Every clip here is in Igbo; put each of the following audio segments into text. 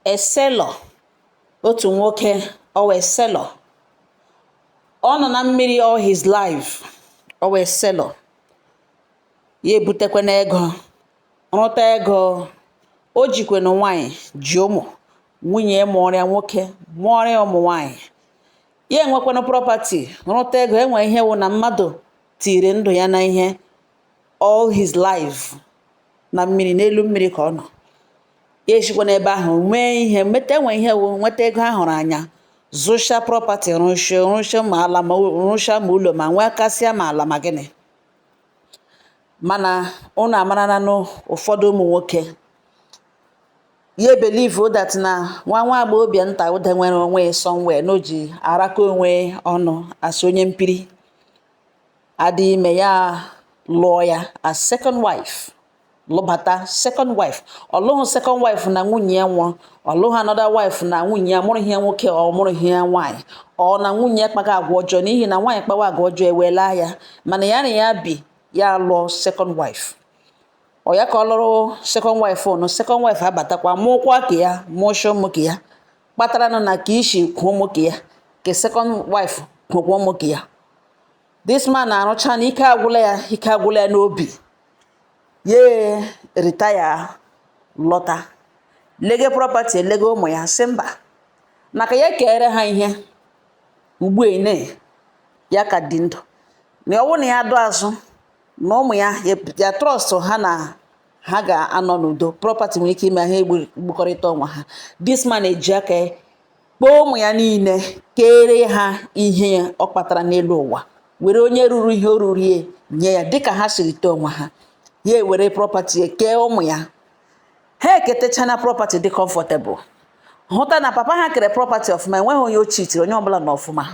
a sailor otu nwoke ọ wụ a sailor ọ nọ na mmiri all his life ọ wụ a sailor ya ebutekwa na ego rụta ego o jikwenụ nwaanyị ji ụmụ nwunye mụọrịa nwoke mụọrịa ụmụ nwaanyị ya enwekwanụ property rụta ego enwe ihe wụ na mmadụ tiri ndụ ya na ihe all his life na mmiri n'elu mmiri ka ọ nọ ya eshikwa n'ebe ahụ nwee ihe meta enwe ihe wụ nweta ego a hụrụ anya zụcha property rụcha ma ala ma rụcha ma ụlọ ma nwee kasịa ma ala ma gịnị mana ụnụ amarana na ụfọdụ ụmụ nwoke ya believe that na nwa nwa agbọghọbịa nta ụda nwere onwe somewhere na o ji araka onwe ọnụ asị onye mpiri adị ime ya lụọ ya as second wife lụbata second wife ọ lụghị second wife na nwunye ya nwụrụ ọ lụghị another wife na nwunye ya amụrụghị ya nwoke ọ mụrụghị ya nwaanyị ọ na nwunye ya kpaga agwa ọjọọ n'ihi na nwaanyị kpawa agwa ọjọọ ewela ya mana ya na ya bi ya lụọ second wife ọ ya ka ọ lụrụ second wife ụnụ second wife abatakwa mụọkwa ka ya mụcha ụmụ ka ya kpataranụ na ka ishi kwuo nwoke ya ka second wife kwuo nwoke ya this man na-arụcha na ike agwụla ya ike agwụla ya n'obi ya retire lọta lege property lege ụmụ ya sị mba na ka ya kere ha ihe ugbu a na ya ka dị ndụ na ọ wụ na ya dụ azụ na ụmụ ya ya trust ha na ha ga-anọ n'udo property nwere ike ime ha egbukọrịta onwe ha this man eji aka kpọọ ụmụ ya niile kere ha ihe ọ kpatara n'elu ụwa were onye ruru ihe o ruru ya nye ya dịka ha siri tọọ onwe ha ya ewere property kee ụmụ ya ha eketechana property dị comfortable hụta na papa ha kere property ọfụma enweghị onye o chitiri onye ọbụla nọ ọfụma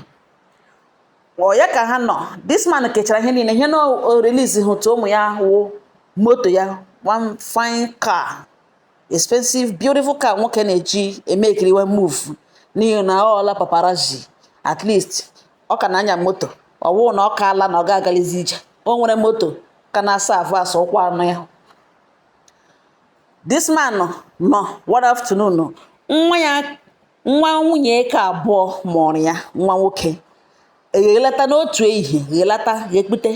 ọ ya ka ha nọ this man kechara ihe niile ihe na o release hụtụ ụmụ ya wụ moto ya one fine car expensive beautiful car nwoke na-eji eme ekiri one move n'ihi na ọ ọla paparazzi at least ọ ka na-anya moto ọ wụụ na ọ kaala na ọ ga-agalizi ije o nwere moto ka na-asa avụ asa ụkwụ anya this man nọ one afternoon nwa ya nwa nwunye ka abụọ mụrụ ya nwa nwoke eghelata n'otu ehihie ghelata ya ekpute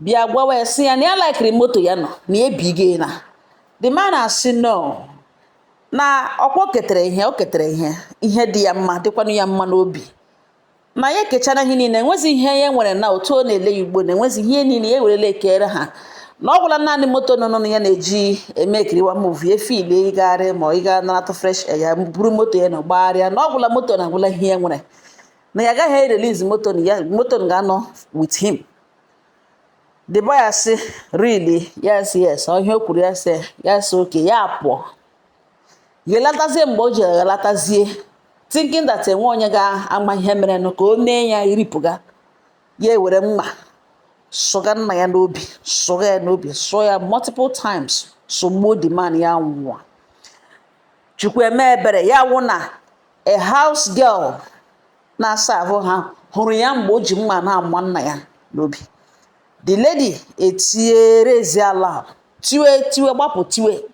bịa gwawa ya sị ya na ya laikiri moto ya nọ na ya ebighị na the man asị no na ọkwa o ketere ihe o ketere ihe ihe dị ya mma dịkwanụ ya mma n'obi ma ya ekechara ihe niile enwezi ihe ya nwere na otu ọ na-ele ya ugbo na enwezi ihe niile ya werele ekere ha na ọ gwụla naanị moto nọ n'ọnụ ya na-eji ma ekiriwa movie efeel ịgagharị ma ị gaa naratụ fresh air ya buru moto ya na gbagharịa na ọ gwụla moto na agwụla ihe ya nwere na ya agaghị erelease moto ya moto ga-anọ with him the boy asị really yes yes ọ ihe o kwuru ya sị ya sị okay ya pụọ ya alatazie mgbe o ji alatazie thinking that enwe onye ga-ama ihe mere nụ ka o mee ya iripụga ya ewere mma sụga nna ya n'obi sụga ya n'obi sụọ ya multiple times sụgbuo the man ya nwụọ chukwu eme ebere ya wụ na a house girl na-aserve ha hụrụ ya mgbe o ji mma na-ama nna ya n'obi the lady etie raise alarm tiwe tiwe gbapụ tiwe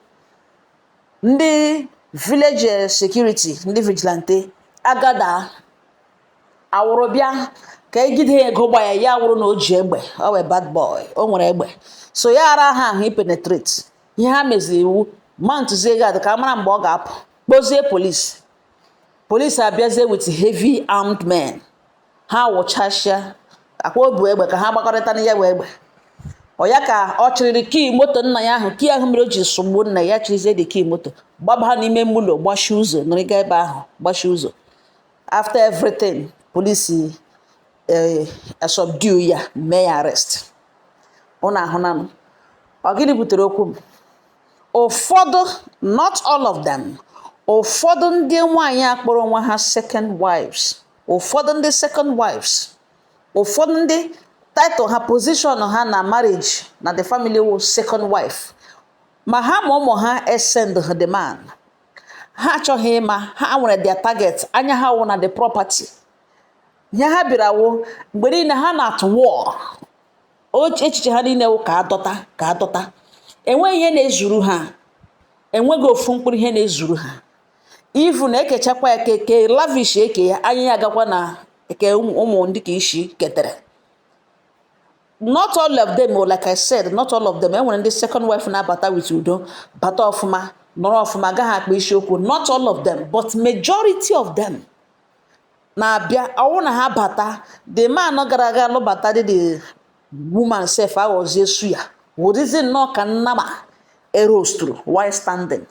ndị village eh, security ndị vigilante agada awụrụ bịa ka egide ya ego gba ya ya wụrụ na o ji egbe ọ wụ a bad boy o nwere egbe so ya ara ha ahụ ipenetrate ihe ha meziri wụ mountụzie guard ka a mara mgbe ọ ga-apụ kpọzie polisi polisi abịazie with heavy armed men ha wụchasịakwa o bu egbe ka ha gbakọrịta na ya bụ egbe ọ ya ka ọ chịrịrị key moto nna ya ahụ key ahụ mere o ji sụgbuo nna ya chịrịzie the key moto gbabaa n'ime ụlọ gbachi ụzọ nọrịga ebe ahụ gbachi ụzọ after everything polisi eh, subdue ya mee ya arrest ụnụ ahụna nụ ọ gịnị butere okwu m ụfọdụ not all of them ụfọdụ ndị nwaanyị kpọrọ onwe ha second wives ụfọdụ ndị second wives ụfọdụ ndị title ha position ha na marriage na the family wụ second wife ma ha ma ụmụ ha esend ha the man ha achọghị ịma ha nwere their target anya ha wụ na the property ihe ha bịara wụ mgbe niile ha nọ at war echiche ha niile wụ ka a dọta ka a dọta enweghị ihe na-ezuru ha enweghị ofu mkpụrụ ihe na-ezuru ha even ekechakwa ya ke ke lavish nke ya anya agakwa na nke ụmụ ụmụ ndị nke isi ketere not all of them oh, like i said not all of them enwere ndị second wife na-abata with udo bata ọfụma nọrọ ọfụma agaghị akpa isiokwu not all of them but majority of them na-abịa ọ wụ na ha bata the man gara aga lụbata dị the woman sef aghọzie suya wụdịzi nnọọ ka nnama eroastụrụ while standing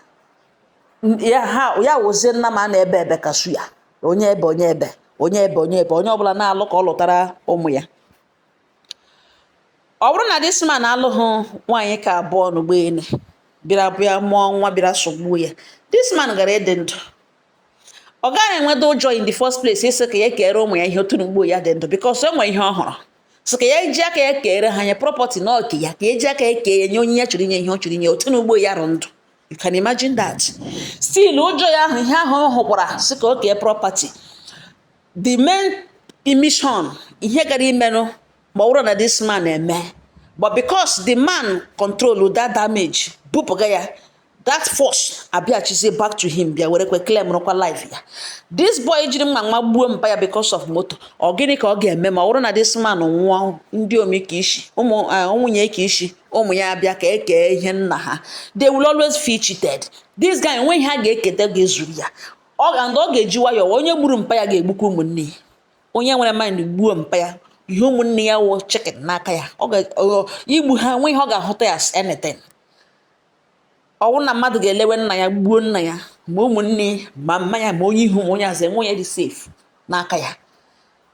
ya ha ya wụzie nnama a na-ebe ebe ka suya onye ebe onye ebe onye ebe onye ebe onye ọbụla na-alụ ka ọ lụtara ụmụ ya ọ bụrụ na this man alụghị nwaanyị nke abụọ n'ugbo ene bịara bịa mụọ nwa bịara sogbuo ya this man gara ịdị ndụ ọ gaghị enweta ụjọ in the first place ịsị ka ya kere ụmụ ya ihe otu n'ugbo ya dị ndụ because o nwere ihe ọ hụrụ so ka ya ji aka ya kere ha nye property na oke ya ka eji aka ya kee ya nye onye ya chọrọ inye ihe ọ chọrọ inye otu n'ugbo ya rụ ndụ You can imagine that. Still, ụjọ ya ahụ ihe ahụ ọ hụkwara sị ka o kee property. The main mission ihe gara imenụ ma ọ bụrụ na this man eme but because the man control that damage bupụga ya that force abịachizie back to him bịa were kwe claim rụkwa life ya this boy jiri mma wagbuo mpa ya because of moto ọ gịnị ka ọ ga-eme ma ọ bụrụ na this man nwụọ ndị ụmụ nke isi ụmụ eh, nwunye nke isi ụmụ ya abịa ka e kee ihe nna ha they will always feel cheated this guy enweghị ihe a ga-eketa ga-ezuru ya ọ ga and ọ ga-eji nwayọọ onye gburu mpa ya ga-egbukwa ụmụnne ya onye nwere mind gbuo mpa ya ihe ụmụnne ya wụ chicken n'aka ya igbu ha enweghị ihe ọ ga-ahụta ya as anything ọ wụ na mmadụ ga-elewe nna ya gbuo nna ya ma ụmụnne ma mma ya ma onye ihu ma onye azụ enwe ya dị safe n'aka ya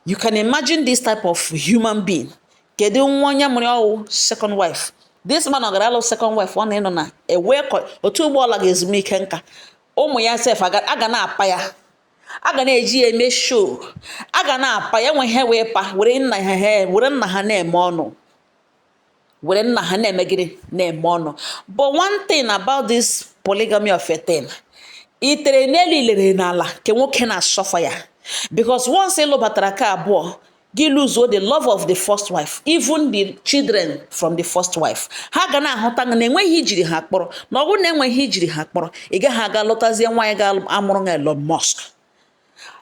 you can imagine this type of human being kedu nwa onye mụrụ ọ wụ second wife this man ọ gara alụ second wife ọ na-enọ na ewe otu ugbo ọ laga ezumike nka ụmụ ya sef a ga na-apa ya a ga na-eji ya eme show a ga na-apa ya nwe ihe wee pa were nna ha were nna ha na-eme ọnụ were nna ha na-eme gịnị na-eme ọnụ but one thing about this polygamy of a thing itere n'elu ilere n'ala nke nwoke na-asuffer ya because once ị lụbatara nke abụọ gị luzuo the love of the first wife even the children from the first wife ha ga na-ahụta na enweghị ihe i jiri ha kpọrọ na ọ bụrụ na enweghị ihe i jiri ha kpọrọ ị gaghị aga lụtazie nwaanyị ga-amụrụ na Elon Musk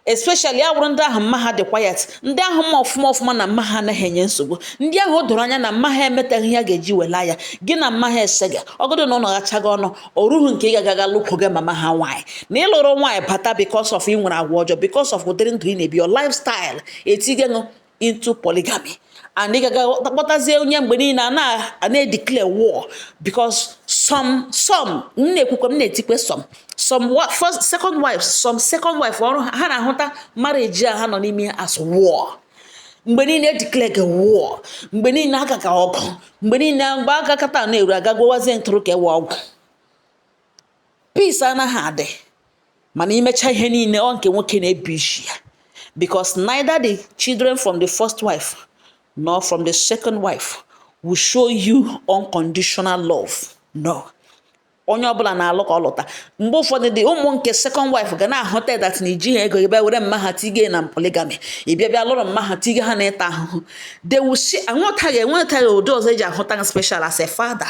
especially ya wụrụ ndị ahụ mma ha dị quiet ndị ahụ ma ọfụma ọfụma na mma ha anaghị enye nsogbu ndị ahụ o doro anya na mma ha emetaghị ihe a ga-eji wela ya gị na mma ha esega ọgọdụ na unu gachaga ọnụ o rughị nke ị ga-agaga lụkwụga mama ha nwaanyị na ị lụrụ nwaanyị bata because of ị nwere agwa ọjọọ because of ụdịrị ndụ ị na-ebi your lifestyle etii gị nụ into polygamy and ị gaga kpọtazie onye mgbe niile a na-edeclare war because some some m na-ekwukwe m na-etikwe some some first second wife some second wife ọrụ ha na-ahụta marriage a ha nọ n'ime as war mgbe niile edeclarega war mgbe niile agaga ọgụ mgbe niile mgbe agakata na-eru aga gwọwazie ntụrụ ka ewe ọgwụ peace anaghị adị mana imecha ihe niile ọ nke nwoke na-ebi isi ya because neither the children from the first wife nor from the second wife will show you unconditional love no onye ọbụla na-alụ ka ọ lụta mgbe ụfọdụ dị ụmụ nke second wife ga na-ahụta that na iji ha ego gị bịa were mma ha tige na polygamy ị bịa bịa lụrụ mma ha tige ha na ịta ahụhụ they will see anwụtaghị enwetaghị ụdị ọzọ eji ahụta ha special as a father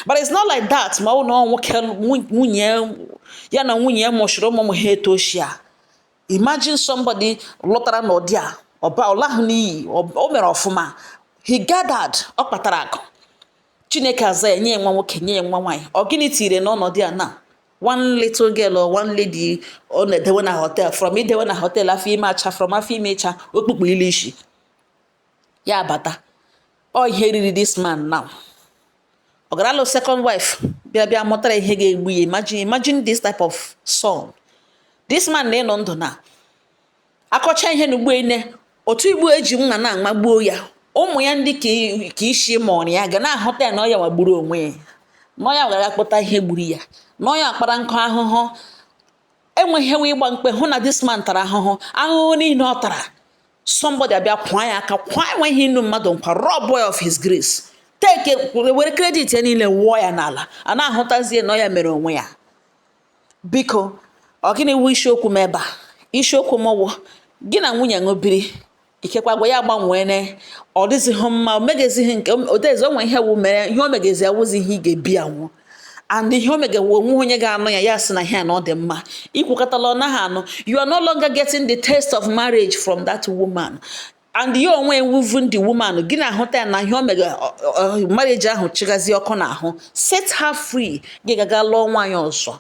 but it's not like that ma ọ na nwoke nwunye ya na nwunye ya mụchiri ụmụ ụmụ ha etoshia imagine somebody lụtara n'ụdị a ọba ọ lahụ n'iyi o mere ọfụma he gathered ọ kpatara akụ chineke aza ya nye nwa nwoke nye nwa nwaanyị ọ gịnị tinyere n'ọnọdụ a na one little girl or one lady ọ na-edewe na hotel from idewe na hotel afọ ime acha from afọ ime ịcha okpukpu ilu isi ya abata ọ ihe riri this man now ọ gara lụ second wife bịa bịa mụtara ihe ga-egbu ya imagine imagine this type of son this man na-enọ ndụ na akọcha ihe na ugbo ine otu igbo eji nwa na amagbuo ya ụmụ ya ndị nke isi mụrụ ya ga na-ahụta ya na ọ ya wa gburu onwe ya na ọ ya gara kpọta ihe gburu ya na ọ ya kpara nkụ ahụhụ enweghịwa ịgba mkpe hụ na this man tara ahụhụ ahụhụ niile ọ tara somebody abịa kwaa ya aka kwaa enweghị inu mmadụ nkwa rob boy of his grace take were credit ya niile wụọ ya n'ala a na-ahụtazie na ọ ya mere onwe ya biko ọ gịnị wu isiokwu m ebe a isiokwu m wụ gị na nwunye ṅụ biri ikekwa agwa ya agbanweene ọ dịzighị mma o megezighị nke odezi o nwe ihe wu mere ihe o megezi awụzi ihe ị ga-ebi anwụ and ihe o megewu o nwe onye ga-anụ ya ya sị na ihe a na ọ dị mma i kwukatala ọ naghị anụ you are no longer getting the taste of marriage from that woman and ya onwe even the woman gị na-ahụta ya na ihe o mega marriage ahụ chịgazi ọkụ n'ahụ set her free gị gaga lụọ nwaanyị ọzọ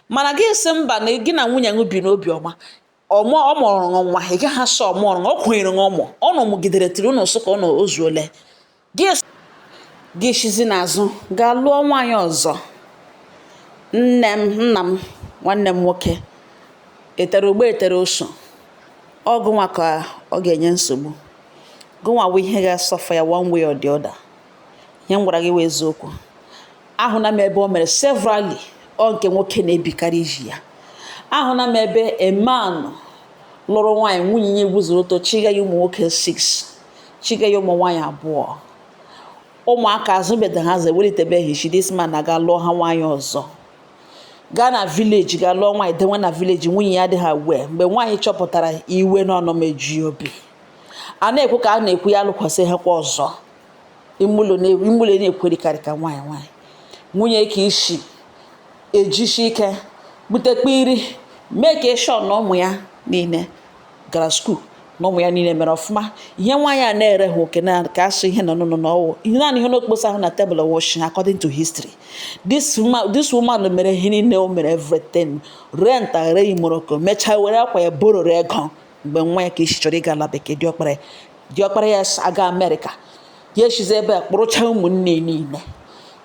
mana gị sị mba na gị na nwunye gị bi n'obi ọma ọmụ ọ mụrụ ṅụ nwa ị gaghị asị ọ mụrọ ọ kwụnyere ṅụ ụmụ ọ nọ mụgidere tiri ụnụ sụ ka ọ nọ o zuole gị es- gị esizi n'azụ gaa lụọ nwaanyị ọzọ nne m nna m nwanne m nwoke etere ogbe etere oso ọ gụnwa ka ọ ga-enye nsogbu gụnwa bụ ihe ga-asuffer ya one way or the other ihe m gwara gị wụ eziokwu ahụna m ebe o mere severally ọ nke nwoke na-ebikarị isi ya ahụna m ebe a man lụrụ nwaanyị nwunye ya guzoro ọtọ chiga ya ụmụ nwoke 6 chiga ya ụmụ nwaanyị abụọ ụmụaka azụbeda ha ewelitebeghị isi this man aga lụọ ha nwaanyị ọzọ gaa na village ga lụọ nwaanyị dewe na village nwunye ya adịghị aware mgbe nwaanyị chọpụtara iwe na ọnụma eju obi a na-ekwu ka a na-ekwu ya alụkwasị ha kwa ọzọ ime ụlọ na-ekwerikarị ka nwaanyị nwaanyị nwunye ke isi ejisi ike butekwa iri make sure na ụmụ ya niile gara school na ụmụ ya niile mere ọfụma ihe nwaanyị a na-ere ha oke na ka asụ ihe nọ n'ụlọ na ọ wụ ihe naanị ihe n'okposa ahụ na table wọsh according to history this woman this woman mere ihe niile o mere everything rent aghere imoroko mechaa were akwa ya bororo ego mgbe nwa ya ke isi chọrọ ịga ala bekee diọkpara ya diọkpara ya si aga America ya esizi ebe a kpụrụcha ụmụnne niile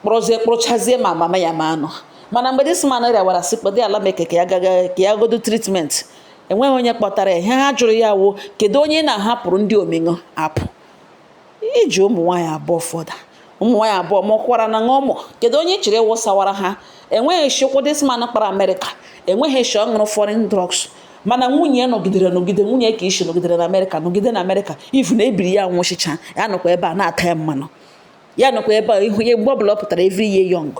kpụrụzie kpụrụchazie ma mama ya ma anọ mana mgbe this man rịawara sị kpọdị ala bekee ka ya gaga ka ya godo treatment enweghị onye kpọtara ya ihe ha jụrụ ya wụ kedu onye na-ahapụrụ ndị ọmụgwọ apụ iji ụmụ nwaanyị abụọ fọda ụmụ nwaanyị abụọ mụkwaranụ ụmụ kedu onye ị chịrị wụsawara ha enweghị chi ụkwụ this man kpara America enweghị chi ọ ṅụrụ foreign drugs mana nwunye nọgidere nọgide nwunye ke isi nọgidere na America nọgide na America ifu na ebiri ya nwụchicha ya nọkwa ebe a na-ata ya mmanụ ya nọkwa ebe a ị hụ ya mgbe ọbụla ọ pụtara every year young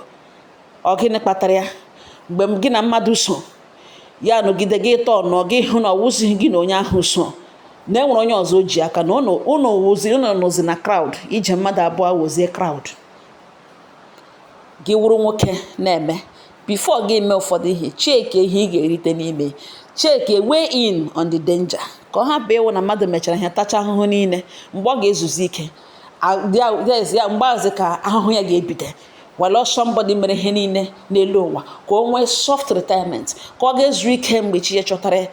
ọ gịnị kpatara ya mgbe gị na mmadụ so ya nọgide gị ịtọ nọ gị hụ na ọ wụzighị gị na onye ahụ so na e nwere onye ọzọ o ji aka na ụnụ wụzi ụnụ nọzi na crowd ije mmadụ abụọ wụzie crowd gị wụrụ nwoke na-eme before gị mee ụfọdụ ihe check ihe ị ga-erite n'ime check weigh in on the danger ka ọ hapụ ịwụ na mmadụ mechara ihe tacha ahụhụ niile mgbe ọ ga-ezuzi ike ya mgbe ahụzi ka ahụhụ ya ga-ebido were somebody mere ihe niile n'elu ụwa ka o nwee soft retirement ka ọ ga-ezu ike mgbe chi ya chọtara ya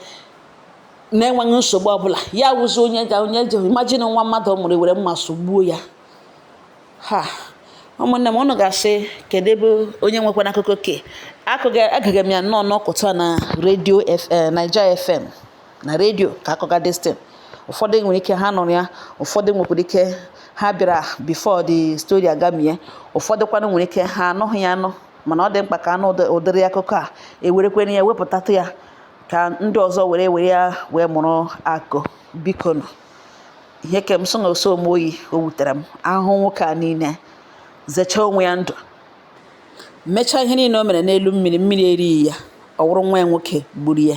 na-enweghị nsogbu ọbụla ya wụzi onye ga onye ji imagine nwa mmadụ mụrụ were mma sụgbuo ya ha ụmụnne m ụnụ ga-asị kedu ebe onye nwekwana akụkọ ke a egega m ya nnọọ n'ụtụtụ a na radio eh, Naija FM na radio ka a kọga this thing ụfọdụ nwere ike ha nụrụ ya ụfọdụ nwekwara ike ha bịara before the story agamie ụfọdụ kwanụ nwere ike ha anụghị ya anụ mana ọ dị mkpa ka a nụ ụdịrị akụkọ a e werekwere ya wepụtatụ ya ka ndị ọzọ were were ya wee mụrụ akọ biko nụ ihe ke m so na ọ sọ m oyi o wutere m ahụhụ nwoke a niile zechaa onwe ya ndụ mechaa ihe niile o mere n'elu mmiri mmiri erighị ya ọ wụrụ nwa ya nwoke gburu ya